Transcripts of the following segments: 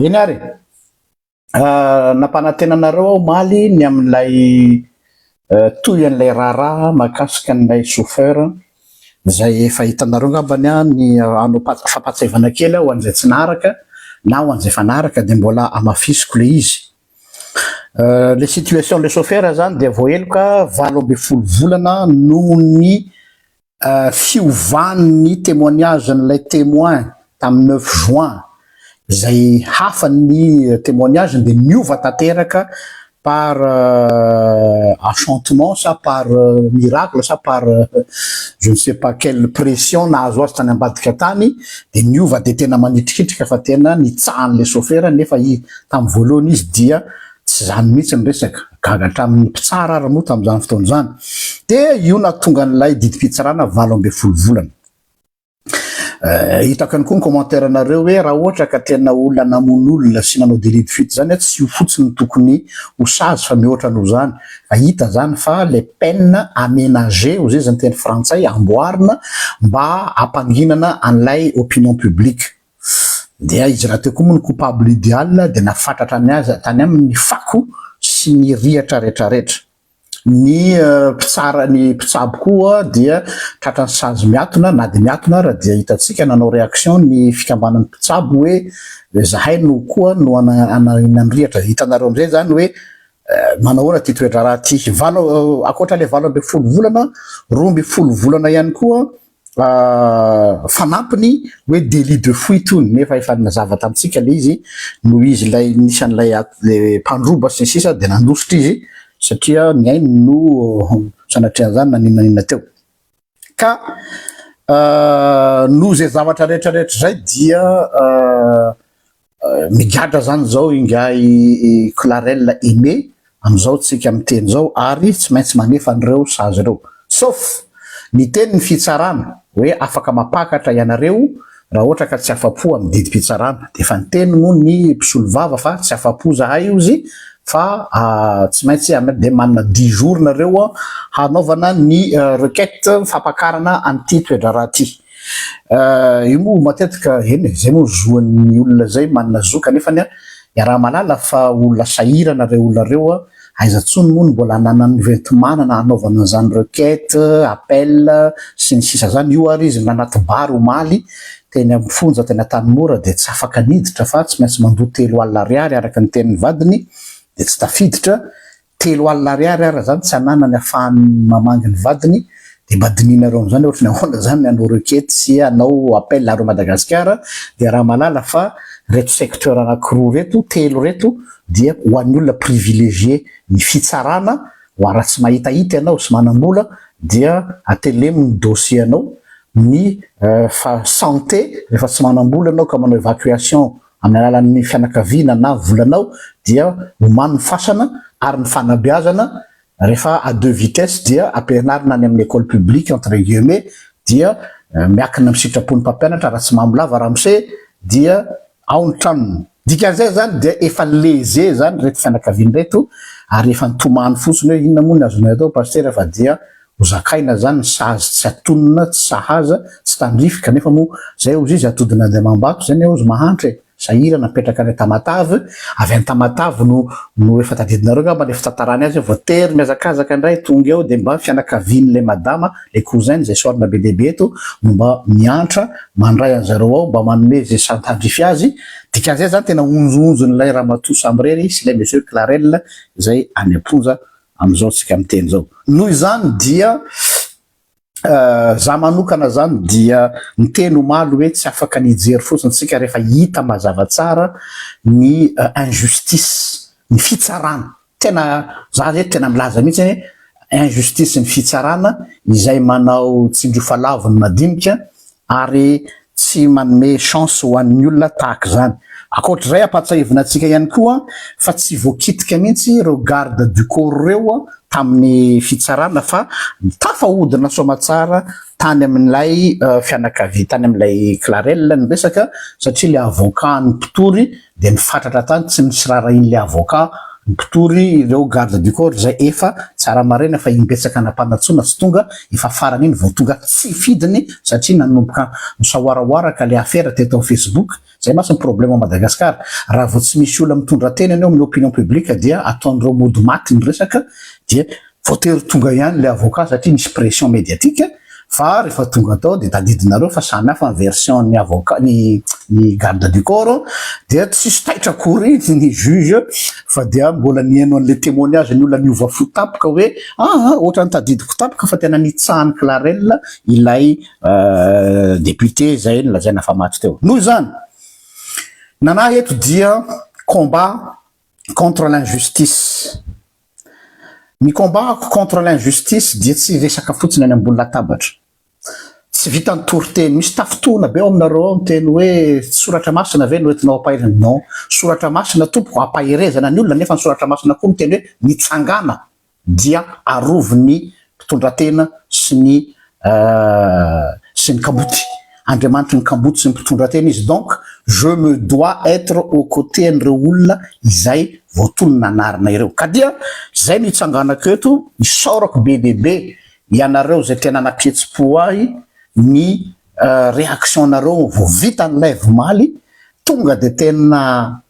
Eny ary e! nampanantena anareo aho omaly ny amin'ilay toy an'ilay raharaha mahakasika an'ilay chauffeur izay efa hitanareo angambany ny hanao fampahatsiahivana kely aho ho an'izay tsy naharaka na ho an'izay efa naharaka dia mbola hamafisiko ilay izy. Ilay situation an'ilay chauffeur izany dia voaheloka valo ambin'ny folo volana noho ny fiovan'ny témoignage-n'ilay témoin tamin'ny neuf juin izay hafa ny témoignage-ny dia niova tanteraka par enchantement sa par miracle sa par je ne sais pas quelle pression nahazo azy tany ambadika tany dia niova dia tena manitrikitrika fa tena nitsahan'ilay sôfera nefa izy tamin'ny voalohany izy dia Tsy izany mihitsy ny resaka. Gaga hatramin'ny mpitsara ary moa tamin'izany fotoana izany dia io nahatonga an'ilay didim-pitsarana valo ambin'ny folo volana. Hitako ihany koa ny commentaire anareo hoe raha ohatra ka tena olona namono olona sy nanao délit de fuite izany a, tsy io fotsiny no tokony ho sazy fa mihoatra noho izany. Fa hita izany fa ilay peine aménagée, ho zezan'ny teny frantsay, amboarina mba hampanginana an'ilay opinion publique. Dia izy raha teo koa moa ny coupable ideal dia nafatratra ny azy tany aminy ny fako sy ny rihatra retraretra. Ny mpitsara ny mpitsabo koa dia tratra ny sazy miatona na dia miatona ara dia hitantsika nanao reaction ny fikambanan'ny mpitsabo hoe zahay no koa no hanahina ny rihatra. Hitanareo amin'izay izany hoe manahoana ity toedraharaha ity. Valo ankoatra ilay valo ambin'ny folo volana, roa ambin'ny folo volana ihany koa fanampiny hoe délit de fuite hono nefa efa nazava tamintsika le izy noho izy ilay nisy an'ilay mpandroba sy ny sisa dia nandositra izy satria ny ainy no sanatrian'izany na n'inona n'inona teo ka noho izay zavatra rehetra rehetra izay dia Migadra zany izao ingahy Clarel Aimé amin'izao tsika miteny izao ary tsy maintsy manefa an'ireo sazy ireo. Sauf, niteny ny fitsarana hoe afaka mampakatra ianareo raha ohatra ka tsy afa-po amin'ny didim-pitsarana. Dia efa niteny moa ny mpisolovava fa tsy afa-po zahay ozy fa tsy maintsy ianareo dia manana dix jours nareo hanaovana ny requête fampakarana an'ity toe-draharaha ity. Ah, io moa matetika, eny e, izay moa zo an'ny olona izay, manana zo, kanefa anie iaraha malala fa olona sahirana ireo olona ireo, aiza intsony moa no mbola ananany hoenti-manana hanaovana an'izany requête, appel, sy ny sisa izany, io ary izy nanaty bary omaly teny amin'ny fonja teny Antanimora dia tsy afaka niditra fa tsy maintsy mandoa telo alina ariary araka ny tenin'ny vadiny dia tsy tafiditra, Telo alina ariary ara zany tsy ananany afahany mamangy ny vadiny de mba dinihinareo amzany ohatry ny ahoana zany anao requete sy anao appel areo Madagascar de raha malala fa reto secteur anaky roa reto telo reto dia ho an'ny olona privilegier ny fitsarana wa raha tsy mahitahita ianao sy manambola dia atelemo ny dossier anao ny fa sante refa tsy manambola anao ka manao evacuation Amin'ny alalan'ny fianakaviana na volanao dia omano ny fasana ary ny fanabeazana rehefa à deux vitesses dia ampianarina any amin'ny école publique entre guillemets dia miakina amin'ny sitrapon'ny mpampianatra raha tsy mamolava ramose dia ao ny tranony. Dikan'izay izany dia efa leze izany ireto fianakaviana ireto ary efa nitomany fotsiny hoe inona moa ny azonay atao Pasitera fa dia Ho zakaina izany ny sazy tsy atonona, tsy sahaza, tsy tandrify, kanefa moa izay hozy izy atody nandeha amam-bato izay anie hozy mahantra e! Sahirana apetraka any Tamatave, avy any Tamatave no no efa tadidinareo angamba ny fitantarany azy, voatery mihazakazaka indray tonga eo dia mba ny fianakavian'ilay madama, ilay cousin izay soarina be dia be eto no mba miantra mandray an'i zareo ao mba manome izay sahy tandrify azy, dikan'izay izany tena onjononjon'ilay ramatoa samirery sy ilay monsieur Clarel izay any am-ponja amin'izao tsika miteny zao. Noho izany dia za manokana zany dia miteny omaly hoe tsy afaka ny hijery fotsiny tsika rehefa hita mazava tsara ny injustice ny fitsarana tena za zay tena milaza mihitsy hoe injustice ny fitsarana izay manao tsindriofalavon'ny madinika ary tsy manome chance ho an'ny olona tahaka izany. Ankoatr'izay ampahatsahivina antsika ihany koa fa tsy voakitika mihitsy ireo garde du corps ireo tamin'ny fitsarana fa tafahodina soamatsara tany amin'ilay fianakavia, tany amin'ilay Clarel ny resaka satria ilay avocat-n'ny mpitory dia nifatratra tany tsy misy raharahian'ilay avocat ny mpitory ireo garde du corps izay efa tsara maraina fa imbetsaka nampanantsoina tsy tonga, efa farany iny vao tonga tsy fidiny satria nanomboka misahoarahoara ka ilay afera teto amin'ny facebook, izay mantsy ny problème ao Madagascar raha vao tsy misy olona mitondra tena eny amin'ny opinion publique dia ataon'ireo mody maty ny resaka dia Voatery tonga ihany ilay avocat satria nisy pression mediatique fa rehefa tonga tao dia tadidinareo fa samy hafa ny version ny avocat ny ny garde du corps dia tsisy taitra akory ny juge fa dia mbola nihaino an'ilay temoignage ny olona niova fo tampoka hoe ah ah ohatrany tadidiko tampoka fa tena nitsahany clarel ilay député izay nolazaina fa maty teo. Noho izany nanahy eto dia combat contre l'injustice. Ny combat-ko contre l'injustice dia tsy resaka fotsiny any ambony latabatra. Tsy vitan'ny toriteny. Misy tafintohina be ao aminareo ao ny teny hoe soratra masina ve no entinao ampaherina? Non. Soratra masina tompoko ampaherezana ny olona nefa ny soratra masina koa miteny hoe mitsangàna dia arovy ny mpitondratena sy ny sy ny kamboty. Andriamanitry ny kamboty sy ny mpitondratena izy donc je me dois être au cote an'ireo olona izay voatonona anarina ireo. Ka dia izay no itsanganako eto isaorako be dia be ianareo izay tena nampihetsi-po ahy ny réaction-nareo vao vita ny live omaly tonga dia tena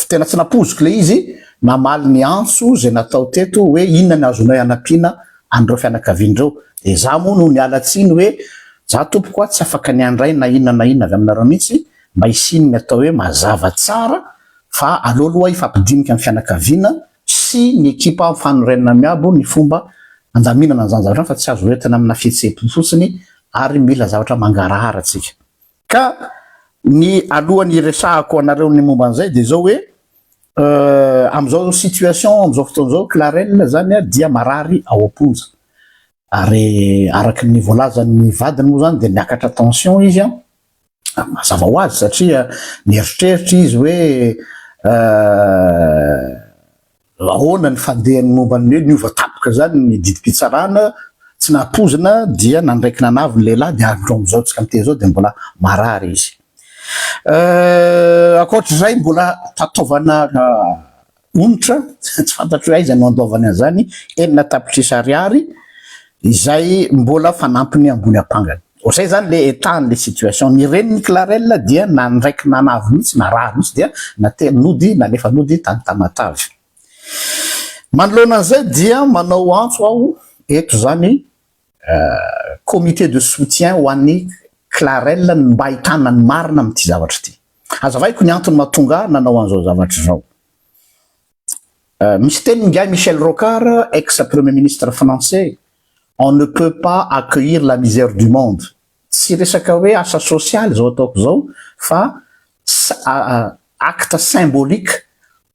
Tena tsy nampoiziko ilay izy namaly ny antso izay natao teto hoe inona ny azonay hanampiana an'ireo fianakaviana ireo. Dia izaho moa no niala tsiny hoe za tompoko a, tsy afaka ny handray na inona na inona avy aminareo mihitsy, mba hisian'ny atao hoe mazava tsara fa aleo aloha hifampidinika ny fianakaviana sy ny ekipa mifanorenana miabo ny fomba handaminana an'izany zavatra izany fa tsy azo hoentina amina fihetseham-po fotsiny ary mila zavatra mangarahara tsika. Ka ny alohan'ny hiresahako anareo ny momba an'izay dia izao hoe, amin'izao situation, amin'izao fotoana izao, Clarel izany dia marary ao am-ponja. Ary araka ny voalazan'ny vadiny moa izany dia miakatra tension izy. Mazava ho azy satria mieritreritra izy hoe. Ahoana ny fandehany momba ny hoe niova tapoka izany ny didim-pitsarana, tsy nampoizina dia nandraiky nanavy ny lehilahy dia hatrao amin'izao antsika miteny izao dia mbola marary izy. Ankoatr'izay mbola tataovana onitra, tsy fantatro hoe aiza no andoavany an'izany, enina tapitrisa ariary izay mbola fanampiny ambony ampangany. Vao zay zany le état an'le situation. Ny renin'i Clarel dia nandraiky nanavy mihitsy, narary mihitsy dia nately nody, nalefa nody tany Tamatave. Manoloana an'izay dia manao antso aho eto izany comité de soutien ho an'i Clarel ny mba ahitana ny marina amin'ity zavatra ity. Hazavaiko ny antony mahatonga ahy nanao an'izao zavatra izao. Misy teniny ingahy Michel Rocard, ex premier ministre français, on ne peut pas accueillir la misère du monde, tsy resaka hoe asa sosialy izao ataoko izao fa acte symbolique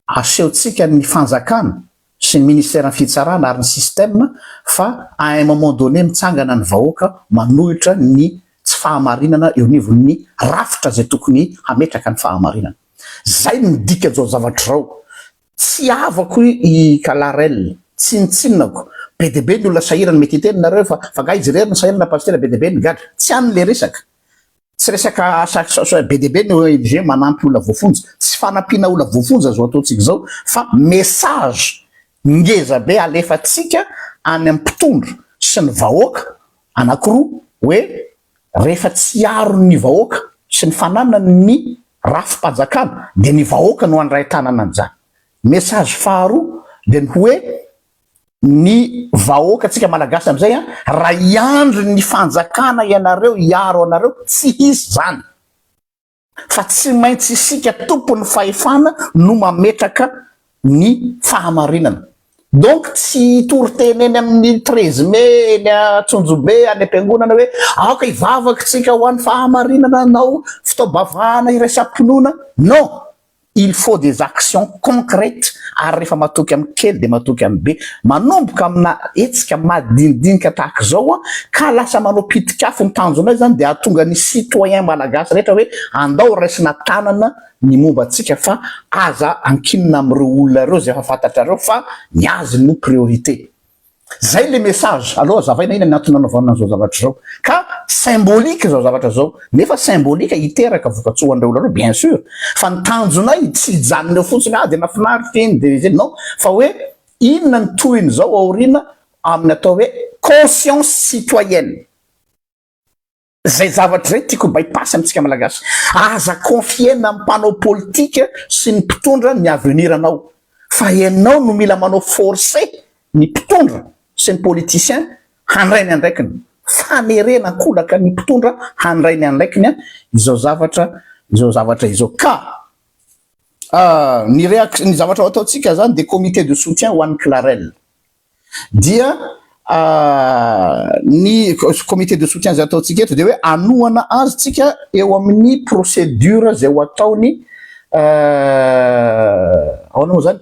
asehontsika ny fanjakana sy ny ministeran'ny fitsarana ary ny système fa à un moment donné mitsangana ny vahoaka manohitra ny tsy fahamarinana eo anivon'ny rafitra izay tokony hametraka ny fahamarinana. Zay no midika zao zavatra zao. Tsy havako i Kalarel, tsinontsinonako. Be dia be ny olona sahirana, mety hiteny nareo fa fa nga izy irery no sahirana na pasitera be dia be no gadra. Tsy any le resaka. Tsy resaka asa asa be dia be ny ONG manampy olona voafonja. Tsy fanampiana olona voafonja zao ataontsika zao fa message ngeza be alefatsika any am mpitondra sy ny vahoaka Anankiroa, hoe rehefa tsy aron'ny vahoaka sy ny fananany ny rafi-panjakana dia ny vahoaka no handray tanana an'izany. Message faharoa dia ny hoe ny vahoakantsika malagasy amin'izay an, raha hiandry ny fanjakana ianareo hiaro anareo, tsy hisy izany. fa tsy maintsy isika tompon'ny fahefana no mametraka ny fahamarinana. Donc tsy hitory teny eny amin'ny treize mai eny Antsonjobe any am-piangonana hoe aoka hivavaka isika ho an'ny fahamarinana hanao fitaom-bavahana iraisam-pinoana. Non! Il faut des actions concrètes ary rehefa matoky amin'ny kely dia matoky amin'ny be. Manomboka amina hetsika madinidinika tahaka izao ka lasa manao pitik'afo ny tanjonay izany dia hahatonga ny citoyen malagasy rehetra hoe andao raisina tanana ny momba antsika fa aza ankinina amin'ireo olona ireo izay efa fantatrareo fa ny azy no priorité. Zay le message, aleo azavaina ina ny antony nanaovana an'izao zavatra izao. Ka symbolique izao zavatra izao, nefa symbolique hiteraka vokatsoa ho an'ireo olona ireo bien sur, fa ny tanjonay tsy hijanona eo fotsiny ah dia nafinaritra iny dia izay, non, fa hoe inona ny tohiny izao aoriana amin'ny atao hoe conscience citoyenne. Zay zavatra zay tiako by pass amintsika malagasy. Aza confier-na amin'ny mpanao politika sy ny mpitondra ny avenir anao fa ianao no mila manao forcer ny mpitondra sy ny politiciens handray ny andraikiny. Fanerena an-kolaka ny mpitondra handray ny anraikiny an izao zavatra izao zavatra izao ka ny reaction ny zavatra ho ataontsika zany dia comité de soutien ho an'i Clarel. dia ny comité de soutien izay ataontsika eto dia hoe hanohana azy tsika eo amin'ny procédure izay ho ataony ahoana moa izany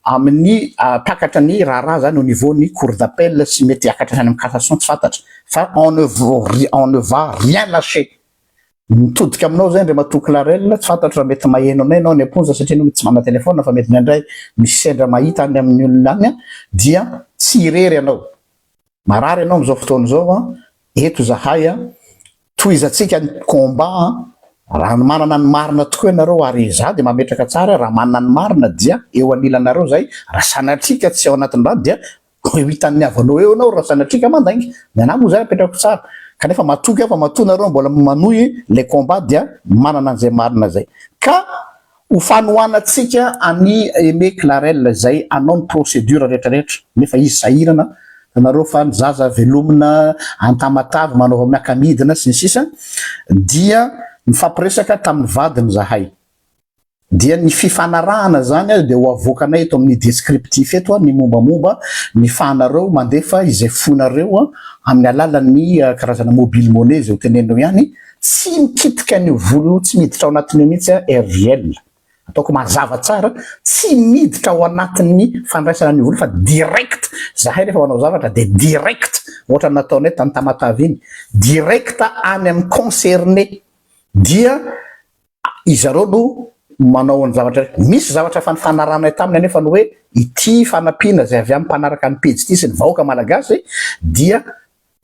amin'ny takatra ny raharaha izany au niveau ny cour d'appel sy mety hiakatra hatrany amin'ny cassation tsy fantatra fa on ne va rien lâcher. Mitodika aminao izay Andriamatoa Clarel, tsy fantatro raha mety maheno anay ianao any am-ponja satria ianao mety tsy manana telefaonina fa mety indraindray misy sendra mahita any amin'ny olona any dia tsy irery ianao. Marary ianao amin'izao fotoana izao, eto izahay, tohizantsika ny combat, raha manana ny marina tokoa ianareo ary izaho dia mametraka tsara raha manana ny marina dia eo anilanareo izay, raha sanatria ka tsy ao anatin'izany dia Koa eo hitan'ny havanao eo ianao raha sanatria ka mandainga. Ny anah moa izay apetrako tsara. Kanefa matoky aho fa matoa nareo mbola manohy ilay combat dia manana an'izay marina izay. Ka ho fanohanantsika an'i Aimé Clarel izay hanao ny procédure rehetrarehetra. Nefa izy sahirana, hitanareo fa ny zaza velomina an-tamatave manao miaka-midina sy ny sisa. Dia nifampiresaka tamin'ny vadiny izahay. Dia ny fifanarahana izany ary dia ho avoakanay eto amin'ny descriptif eto ny mombamomba ny fahanareo mandefa izay fonareo amin'ny alalan'ny karazana mobile money izay ho teneninao ihany, tsy mikitika an'io vola io, tsy miditra ao anatin'io mihitsy aho RJL. Ataoko mazava tsara, tsy miditra ao anatin'ny fandraisana an'io vola fa direct, zahay rehefa manao zavatra dia direct, ohatra ny nataonay tany Tamatave iny, direct any amin'ny concerné dia. Izareo no manao an'ny zavatra rehetra. Misy zavatra efa nifanaranay taminy anefa ny hoe ity fanampiana izay avy amin'ny mpanaraka ny pejy ity sy ny vahoaka malagasy dia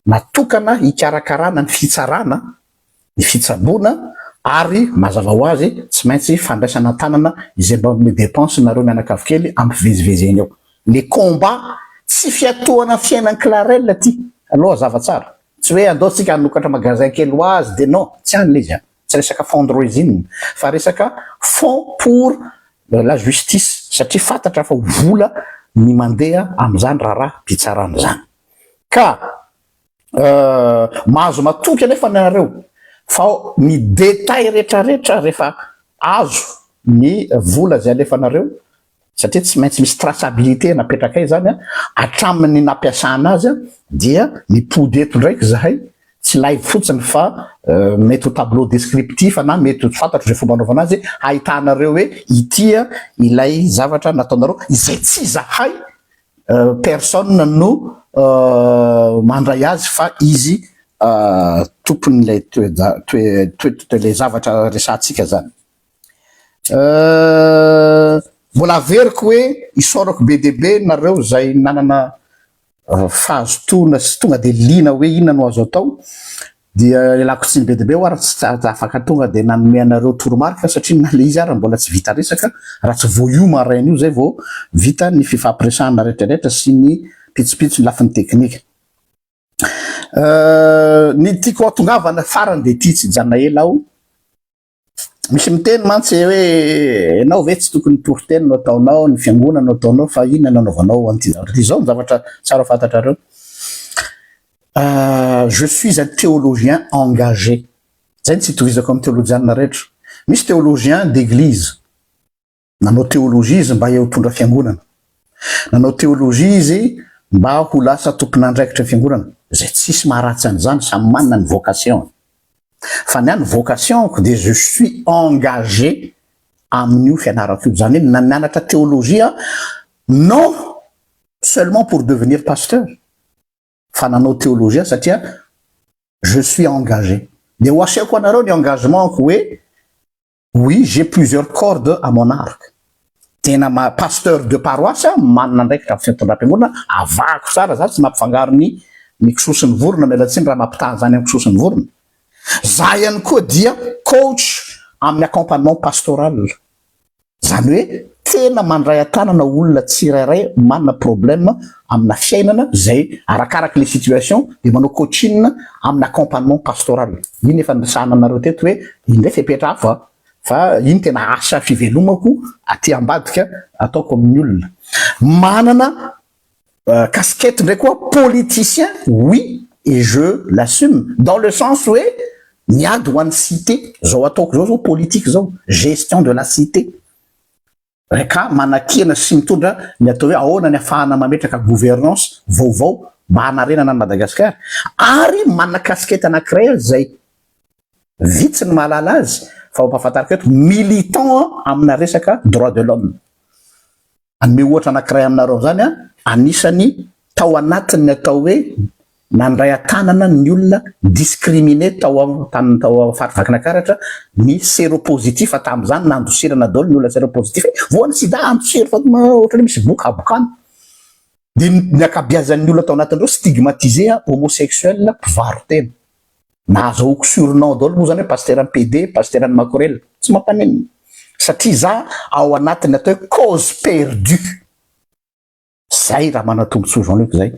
natokana hikarakarana ny fitsarana, ny fitsaboana ary mazava ho azy tsy maintsy fandraisana an-tanana izay mba manome dépense nareo mianakavy kely ampivezivezy eny eo. Le combat tsy fiatohana ny fiainan'i Clarel ty aloha hazava tsara. Tsy hoe andao tsika hanokatra magasin kely ho azy de non, tsy any le izy an. Tsy resaka fundraising fa resaka fonds pour la justice satria fantatra fa ho vola ny mandeha amin'izany raharaham-pitsarana izany. Ka mahazo matoky anefa ianareo fa ny détails rehetrarehetra rehefa azo ny vola izay alefanareo satria tsy maintsy misy traçabilité napetrakay zany a, hatramin'ny nampiasana azy a, dia mipody eto ndraiky zahay, tsy live fotsiny fa mety ho tableau descriptif na mety ho tsy fantatro ze fomba anaovana azy, hahitanareo hoe ity a ilay zavatra nataonareo izay tsy zahay personne no mandray azy fa izy tompon'ilay toe-javatra resahantsika zany. Mbola averiko hoe isaorako be dia be nareo izay nanana fahazotoana sy tonga dia liana hoe inona no azo atao dia ialako tsiny be dia be ho ary tsy afaka tonga dia nanome anareo toromarika satria na ilay izy ary mbola tsy vita resaka raha tsy vao io maraina io izay vao vita ny fifampiresahana rehetrarehetra sy ny pitsopitso ny lafiny teknika. Ny tiako hatongavana farany dia ity tsy hijanona ela aho Misy miteny mantsy hoe ianao ve tsy tokony toriteny no ataonao, ny fiangonana no ataonao fa inona no anaovanao an'ity zavatra ity. Izao ny zavatra tsara fantatrareo. Euh, je suis un théologien engagé. Izay no tsy itovizako amin'ny teolojianina rehetra. Misy théologien d'église. Nanao teolojia izy mba hiaotondra fiangonana. Nanao teolojia izy mba ho lasa tompon'andraikitra fiangonana, izay tsisy maharatsy an'izany, samy manana ny vocation-ny. Fa ny ahy ny vocation-ko dia je suis engagé amin'io fianarako io, izany hoe nianatra teolojia aho non seulement pour devenir pasteur fa nanao teolojia satria je suis engagé. Dia ho asehoko anareo ny engagement-ko hoe Oui j'ai plusieurs cordes à mon arc, tena ma pasteur de paroisse manana andraikitra am fitondram-piangonana, avahako tsara za tsy mampifangaro ny ny kisoa sy ny vorona miala tsiny raha mampitaha an'izany am kisoa sy ny vorona, za ihany koa dia coach amin'ny accompagnement pastoral, zany hoe tena mandray an-tanana olona tsirairay manana problème amina fiainana izay arakaraky le situation de manao coaching amina accompagnement pastoral iny efa niresahana aminareo teto hoe iny ndray fepetra hafa fa iny tena asa fivelomako aty ambadika ataoko amin'ny olona manana casquette ndray koa politicien oui et je l'assume dans le sens hoe miady ho an'ny cité zao ataoko zao zao politique zao gestion de la cité Reka manakihana sy mitondra ny atao hoe ahoana ny afahana mametraka gouvernance vaovao mba hanarenana an'i Madagasikara ary manana casquette anankiray aza izay vitsy ny mahalala azy fa mampahafantariko eto militant amina resaka droit de l'homme. Hanome ohatra anankiray aminareo amin'izany aho, anisan'ny tao anatin'ny atao hoe Nandray an-tanana ny olona discriminé tao amin'ny tao Faritr'i Vakinakaratra ny séropositif tamin'izany nandosirana daholo ny olona séropositif. Voan'ny sida andosiro fa ohatran'ny hoe misy boka habokana. Dia ny ankabiazan'ny olona tao anatin'ireo stigmatisé homosexuel mpivaro-tena. Nahazo aoka surnom daholo moa izany hoe pasiteran'ny PD, pasiteran'ny makorela. Tsy mampaninona satria izaho ao anatin'ny atao hoe cause perdue. Zay raha manatombontsoa Jean Luc zay.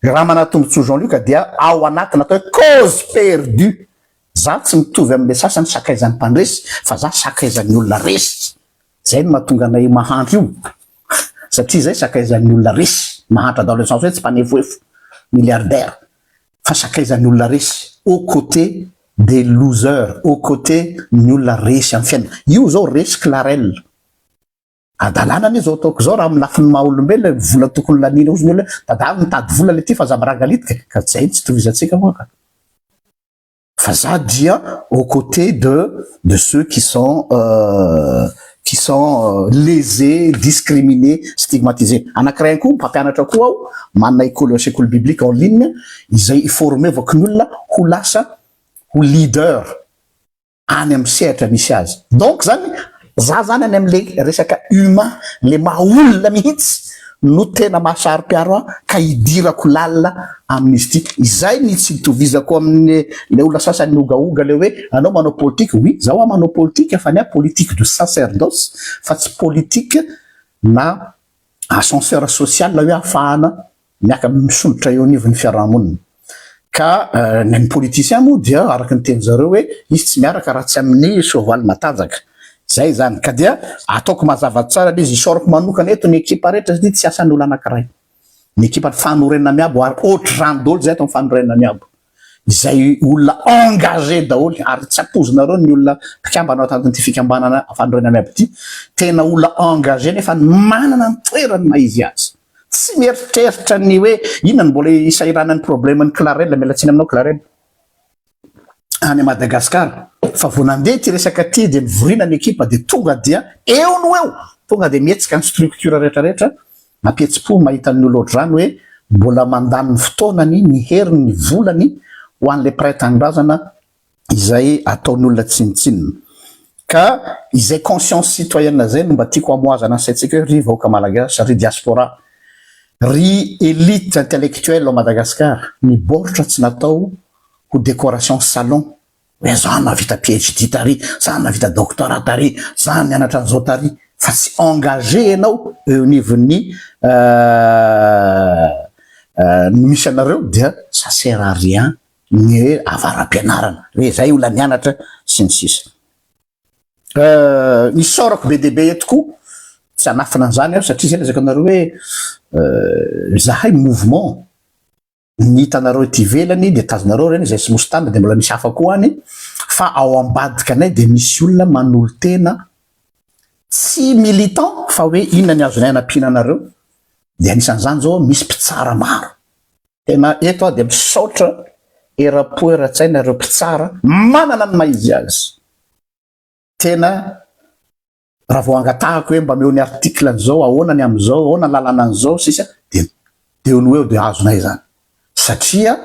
Raha manatombontsoa Jean Luc dia ao anaty natao hoe cause perdue. Za tsy mitovy amle sasany sakaizany mpandresy fa za sakaizany olona resy. Zay no mahatonga anay mahantra io satria zay sakaizany olona resy. Mahantra dans le sens hoe tsy mpanefoefo, milliardaire fa sakaizany olona resy au cote des losers, au cote ny olona resy am fiainana. Io zao resy Clarel. Adalana anie zao ataoko zao raha amin'ny lafiny maha olombelona ny vola tokony laniana ozy ny olona hoe dadaro mitady vola le ty fa za miragalitika ka zay no tsy itovizatsika moa ka fa za dia au côté de de ceux qui sont qui sont lésés discriminés stigmatisés anakiray koa mpampianatra koa aho manana école sekoly biblique en ligne izay i-former-vako ny olona ho lasa ho leader any amin'ny sehatra misy azy. Donc zany za zany any amin'le resaka humain, le maha olona mihitsy no tena mahasaro-piaro ahy ka hidirako lalina amin'izy ity. Izay ny tsy itovizako amin'ny le olona sasany miogaoga le hoe anao manao politika. Oui, zaho aho manao politika fa ny ahy politique de sacerdoce fa tsy politique na ascenseur social hoe afahana miaka misondrotra eo anivon'ny fiarahamonina ka ny politiciens moa dia araka ny teny zareo hoe izy tsy miaraka raha tsy amin'ny soavaly matanjaka zay zany ka dia ataoko mazava tsara le izy isaoriko manokana eto ny ekipa rehetra satria tsy asan'olo anakiray ny ekipa fanorenana miabo ary ohatry zany daholo zay eto ny fanorenana miabo izay olona engagé daholo ary tsy ampoizinareo ny olona mpikambana ao anatin'ity fikambanana fanorenana miabo ity, tena olona engagé nefa manana ny toerany na izy aza, tsy mieritreritra ny hoe inona no mbola isahiranan'ny problème-n'i Clarel, miala tsiny aminao Clarel, any Madagascar fa vao nandeha ity resaka ity dia nivorina ny ekipa dia tonga dia eo no eo, tonga dia mihetsika ny structure rehetra rehetra Mampihetsi-po mahita ny olo ohatr'izany hoe mbola mandany ny fotoanany, ny heriny, ny volany ho an'ilay mpiray tanindrazana izay ataon'olona tsinontsinona. Ka izay conscience citoyenne izay no mba tiako hamohazana ny saintsika hoe ry vahoaka Malagasy, ry diaspora, ry elite intellectuelle ao Madagasikara, ny baoritra tsy natao ho décoration salon Hoe za nahavita PHD tary, za nahavita doctorat tary, za nianatra an'izao tary, fa tsy engagé ianao eo anivon'ny ny misy anareo dia ça sert à rien ny hoe avara-pianarana, hoe zay olona nianatra sy ny sisa. Ny isaorako be dia be eto koa, tsy hanafina an'izany aho satria zay lazaiko anareo hoe zahay mouvement, ny hitanareo ety ivelany dia tazonareo ireny izay tsy nosy tany dia mbola misy hafa koa any fa ao ambadikanay dia misy olona manolo-tena tsy militant fa hoe inona ny azonay anampiana anareo dia anisan'izany izao hoe misy mpitsara maro tena eto aho dia misaotra era-po era-tsaina ireo mpitsara manana ny maha izy azy tena Raha vao angatahako hoe mba meo ny article an'izao, ahoana ny amin'izao, ahoana ny lalana an'izao, sisa dia eo no eo dia azonay izany. Satria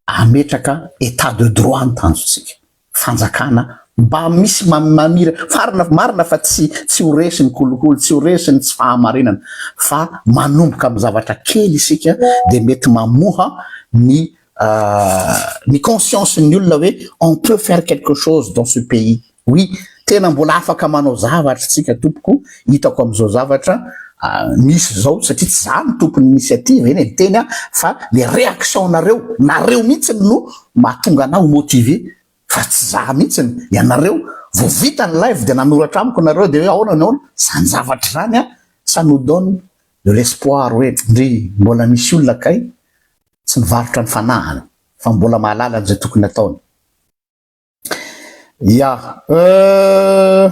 ametraka état de droit ny tanjontsika. Fanjakana mba misy mamira, farina, marina fa tsy tsy ho resy ny kolikoly, tsy ho resy ny tsy fahamarinana, fa manomboka amin'ny zavatra kely isika dia mety mamoha ny ny conscience-n'ny olona hoe on peut faire quelque chose dans ce pays. Oui tena mbola afaka manao zavatra isika tompoko hitako amizao zavatra misy zao satria tsy za no tompony initiative eny e miteny aho fa le reaction nareo nareo mihitsiny no mahatonga anah ho motive fa tsy za mihitsiny ianareo vo vita ny live de nanoratra amiko nareo de hoe aona ny aona zany zavatra zany a ça nous donne de l'espoir hoe ndry mbola misy olona kay tsy mivarotra ny fanahany fa mbola mahalala anizay tokony ataony. Ya. Euh.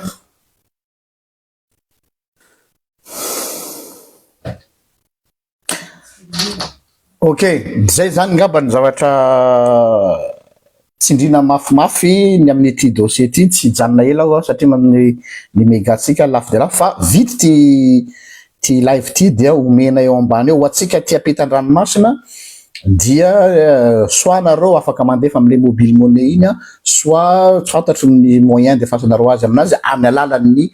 Ok, zay zany ngamba ny zavatra tsindrina mafimafy ny amin'ity dossier ity, tsy hijanona ela aho satria amin'ny ny megatsika lafo dia lafo fa vita ity Ity live ity dia omena eo ambany eo ho antsika aty ampitan-dranomasina dia soit nareo afaka mandefa amin'ilay mobile money iny an, soit tsy fantatro ny moyen andefasanareo azy aminazy amin'ny alalan'ny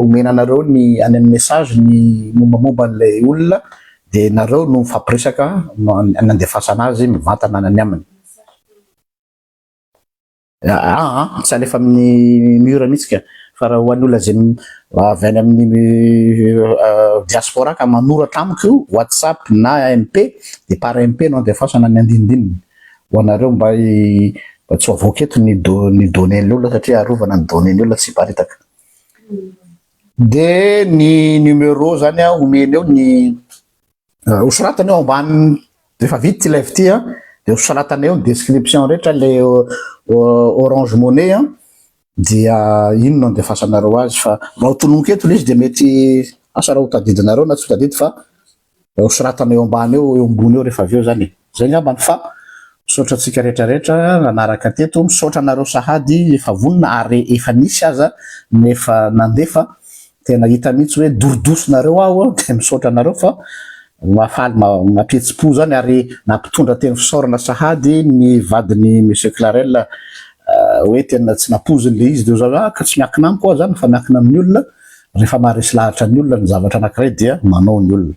omena anareo ny any amin'ny message ny mombamomba an'ilay olona dia nareo no mifampiresaka no anandefasana azy mivantana any aminy. Aa ah, ah, tsy alefa amin'ny mur mihitsy ka fa raha ho an'olona izay avy any amin'ny euh, diaspora ka manoratra amiko whatsapp na mp de par mp no andefasana ny andinindininy ho anareo mba mba tsy avoaka eto ny do ny données-ny olona satria arovana ny données-ny olona tsy hiparitaka de ny numéro zany a omeny eo ny Euh, ho soratana eo ambany rehefa vita ilay vity a dia ho soratana eo ny description rehetra le orange monnaie a dia ino no andefasanareo azy fa raha ho tononiko eto le izy dia mety asa raha ho tadidinareo na tsy ho tadidy fa ho soratana eo ambany eo eo ambony eo rehefa avy eo zany e. Zay ngamba no fa. Misaotra antsika rehetra rehetra nanaraka teto, misaotra anareo sahady efa vonona ary efa nisy aza ny efa nandefa, tena hita mihitsy hoe dorodoso nareo aho dia misaotra anareo fa mahafaly mampihetsi-po zany ary nampitondra teny fisaorana sahady ny vadin'i Monsieur Clarel hoe tena tsy nampoiziny le izy de oza hoe ka tsy miankina amiko aho zany fa miankina amin'ny olona, rehefa maharesy lahatra ny olona ny zavatra anakiray dia manao ny olona.